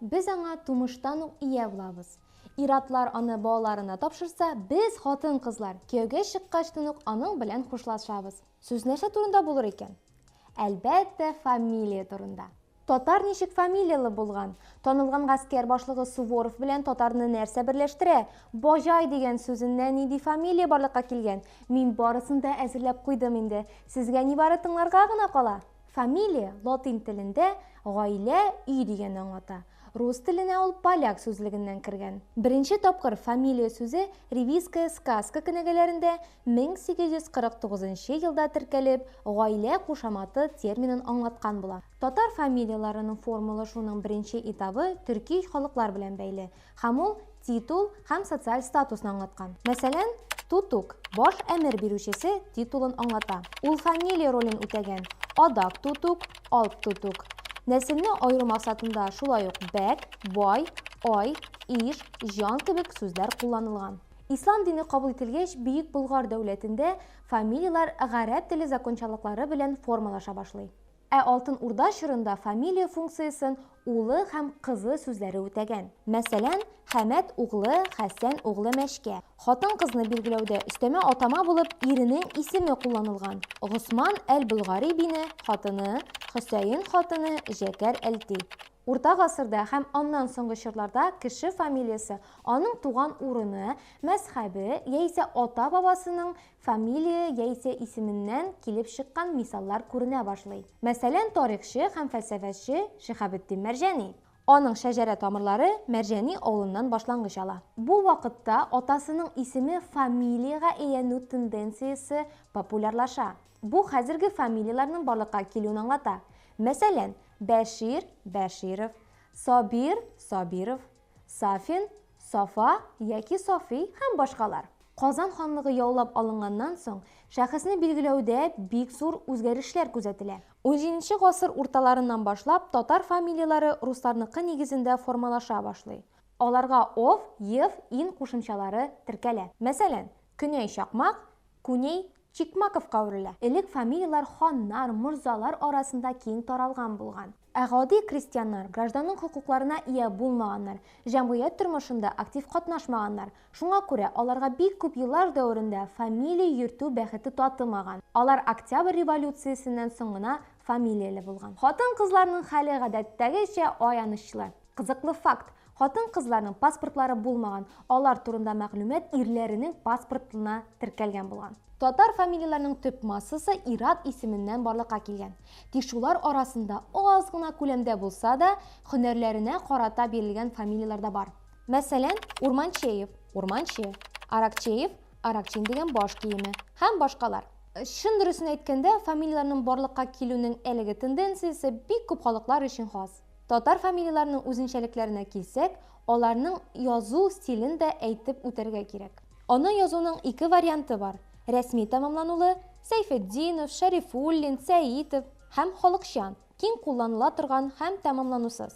без аңа тумыштан ук ия булабыз. Иратлар аны балаларына тапшырса, без хатын-кызлар кияүгә чыккачтан ук аның белән хушлашабыз. Сүз нәрсә турында булыр икән? Әлбәттә, фамилия турында. Татар ничек фамилияле булган? Танылган гаскәр башлыгы Суворов белән татарны нәрсә берләштерә? Баҗай дигән сүзеннән нинди фамилия барлыкка килгән? Мин барысын да әзерләп куйдым инде. Сезгә нибары тыңларга гына кала. Фамилия латин телендә гаилә, өй дигәнне аңлата. Рус теленә ул поляк сүзлегеннән кергән. Беренче тапкыр фамилия сүзе Ревизская сказка кенәгәләрендә 1849 нчы елда теркәлеп, гаилә кушаматы терминын аңлаткан була. Татар фамилияләренең формалашуының беренче этабы төрки халыклар белән бәйле, һәм ул титул һәм социаль статусны аңлаткан. Мәсәлән, Тутук, баш әмер бирүчесе титулын аңлата. Ул фамилия ролен үтәгән, Адак Тутук, Алп Тутук. Нәселне аеру максатында шулай ук Бәк, Бай, Ай, Иж, Җан кебек сүзләр кулланылган. Ислам дине кабул ителгәч, Бөек Болгар дәүләтендә фамилияләр гарәп теле закончалыклары белән формалаша башлый. Ә Алтын Урда чорында фамилия функциясен улы һәм кызы сүзләре үтәгән. Мәсәлән, Хәмәт углы, Хәсән углы Мәчкә. Хатын-кызны билгеләүдә өстәмә атама булып иренең исеме кулланылган, Госман әл-Болгари бине хатыны, Хөсәен хатыны Җәкәр әл-Ти. Урта гасырда һәм аннан соңгы чорларда кеше фамилиясе Аның туган урыны, мәзхәбе яисә ата-бабасының фамилия яисә исеменнән килеп чыккан мисаллар күренә башлый. Мәсәлән, тарихчы һәм фәлсәфәче Шиһабетдин Мәрҗани. Аның шәҗәрә тамырлары Мәрҗани авылыннан башлангыч ала. Бу вакытта атасының исеме фамилиягә әйләнү тенденциясе популярлаша. Бу хәзерге фамилияләрнең барлыкка килүен аңлата. Мәсәлән, Бәшир, Бәширов, Сабир, Сабиров. Сафин, Сафа яки Сафи һәм башкалар. Казан ханлыгы яулап алынганнан соң, шәхесне билгеләүдә бик зур үзгәрешләр күзәтелә. Унҗиденче гасыр урталарыннан башлап татар фамилияләре русларныкы нигезендә формалаша башлый. Аларга ов, ев, ин кушымчалары теркәлә. Мәсәлән, Көнәй Чакмак, Күней Чикмаковка әверелә. Элек фамилияләр ханнар, морзалар арасында киң таралган булган. Ә гади крестьяннар, гражданның хокукларына ия булмаганнар, җәмгыять тормышында актив катнашмаганнар. Шуңа күрә аларга бик күп еллар дәверендә фамилия йөртү бәхете татымаган. Алар Октябрь революциясеннән соң гына фамилияле булган. Хатын-кызларның хәле гадәттәгечә аянычлы. Кызыклы факт, Хатын-кызларның паспортлары булмаган, алар турында мәгълүмат ирләренең паспортына теркәлгән булган. Татар фамилияләренең төп массасы ир-ат исеменнән барлыкка килгән. Тик шулар арасында аз гына күләмдә булса да, һөнәрләренә карата бирелгән фамилияләр дә бар. Мәсәлән, Урманчеев, Урманче, Аракчеев, Аракчин дигән баш киеме һәм башкалар. Чын дөресен әйткәндә, фамилияләрнең барлыкка килүнең әлеге тенденциясе бик күп халыклар өчен хас. Татар фамилияләренең үзенчәлекләренә килсәк, аларның язу стилен дә әйтеп үтәргә кирәк. Аны язуның ике варианты бар, рәсми тәмамланулы, Сәйфетдинов, Шәрифуллин, Сәитов, һәм халыкча, киң кулланыла торган һәм тәмамланусыз.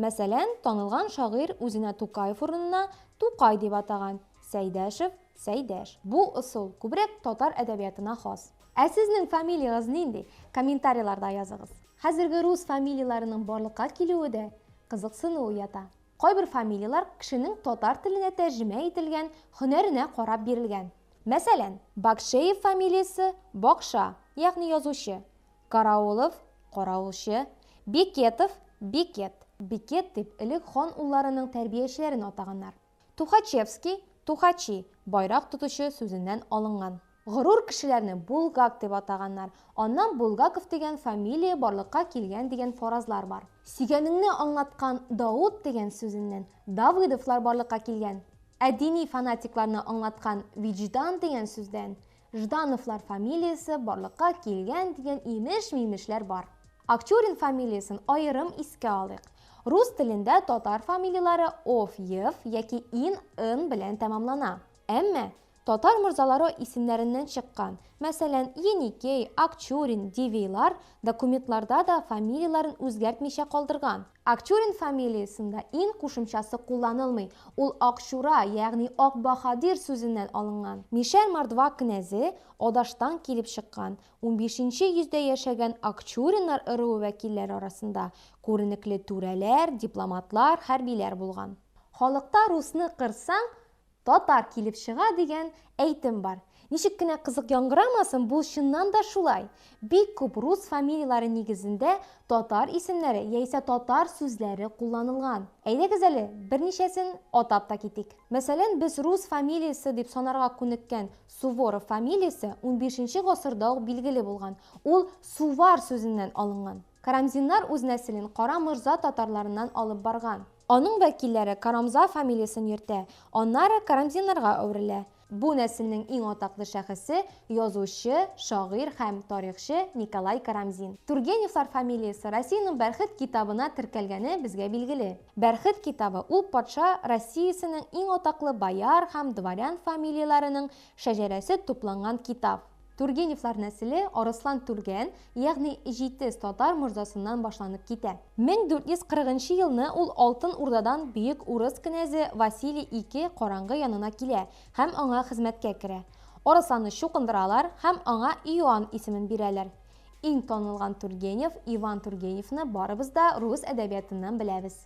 Мәсәлән, танылган шагыйрь үзенә Тукаев урынына Тукай дип атаган, Сәйдәшев, Сәйдәш. Бу ысул күбрәк татар әдәбиятына хас. Ә сезнең фамилиягыз нинди? Комментарийларда языгыз. Хәзерге рус фамилияләренең барлыкка килүе дә кызыксыну уята. Кайбер фамилияләр кешенең татар теленә тәрҗемә ителгән һөнәренә карап бирелгән. Мәсәлән, Бакшеев фамилиясе, Бакша, ягъни язучы, Караулов, Караулчы, Бекетов, Бекет, Бикет дип элек хан улларының тәрбиячеләрен атаганнар. Тухачевский, Тухачи, байрак тотучы сүзеннән алынган. Горур кешеләрне булгак дип атаганнар, аннан Булгаков дигән фамилия барлыкка килгән дигән фаразлар бар. Сөйгәнеңне аңлаткан Даут дигән сүзеннән Давыдовлар барлыкка килгән, ә дини фанатикларны аңлаткан Виҗдан дигән сүздән Ждановлар фамилиясе барлыкка килгән дигән имеш-мимешләр бар. Акчурин фамилиясен аерым искә алыйк. Рус телендә татар фамилияләре ов, ев яки ин, ын белән тәмамлана. Әмма татар морзалары исемнәреннән чыккан, мәсәлән, Еникей, Акчурин, Дивейлар документларда да фамилияләрен үзгәртмичә калдырган. Акчурин фамилиясендә ин кушымчасы кулланылмый, ул Акчура, ягъни Ак баһадир сүзеннән алынган. Мишәр мордва кенәзе Адаштан килеп чыккан, унбишенче йөздә яшәгән Акчуриннар ыруы вәкилләре арасында күренекле түрәләр, дипломатлар, хәрбиләр булган. Халыкта русны кырсаң, Татар килеп чыга дигән әйтем бар. Ничек кенә кызык яңгырамасын, бу чыннан да шулай. Бик күп рус фамилияләре нигезендә татар исемнәре яисә татар сүзләре кулланылган. Әйдәгез әле, берничәсен атап та китик. Мәсәлән, без рус фамилиясе дип санарга күнеккән Суворов фамилиясе унбишенче гасырда ук билгеле булган. Ул сувар сүзеннән алынган. Карамзиннар үз нәселен Кара морза татарларыннан алып барган. Аның вәкилләре Карамза фамилиясен йөртә, аннары Карамзиннарга әверелә. Бу нәселнең иң атаклы шәхесе, язучы, шагыйрь һәм тарихчы Николай Карамзин. Тургеневлар фамилиясе Россиянең Бәрхет китабына теркәлгәне безгә билгеле. Бәрхет китабы, ул патша Россиясенең иң атаклы бояр һәм дворян фамилияләренең шәҗәрәсе тупланган китап. Тургеневлар нәселе Арыслан Түргән, ягъни Җитез татар морзасыннан башланып китә. 1440 нчы елны ул Алтын Урдадан бөек урыс кенәзе Василий I караңгы янына килә һәм аңа хезмәткә керә. Арысланны чукындыралар һәм аңа Иоанн исемен бирәләр. Иң танылган Тургенев Иван Тургеневны барыбыз да рус әдәбиятыннан беләбез.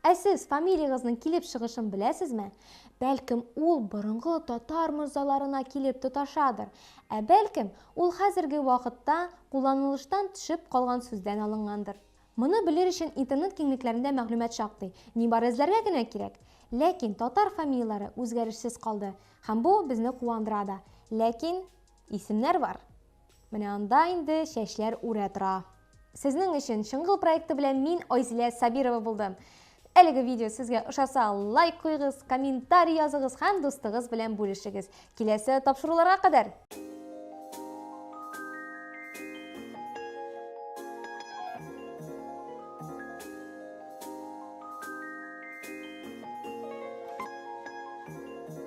Ә сез фамилиягызның килеп чыгышын беләсезме? Бәлкем, ул борынгы татар морзаларына килеп тоташадыр. Ә бәлкем, ул хәзерге вакытта кулланылыштан төшеп калган сүздән алынгандыр. Моны белер өчен интернет киңлекләрендә мәгълүмат шактый, нибары эзләргә генә кирәк. Ләкин татар фамилияләре үзгәрешсез калды, һәм бу безне куандыра да. Ләкин исемнәр бар. Менә анда инде чәчләр үрә тора. Сезнең өчен Чыңгыл проекты белән мин Айзилә Сабирова булдым. Әлеге видео сезгә ошаса, лайк куегыз, комментарий языгыз һәм дустыгыз белән бүлешегез. Киләсе тапшыруларга кадәр!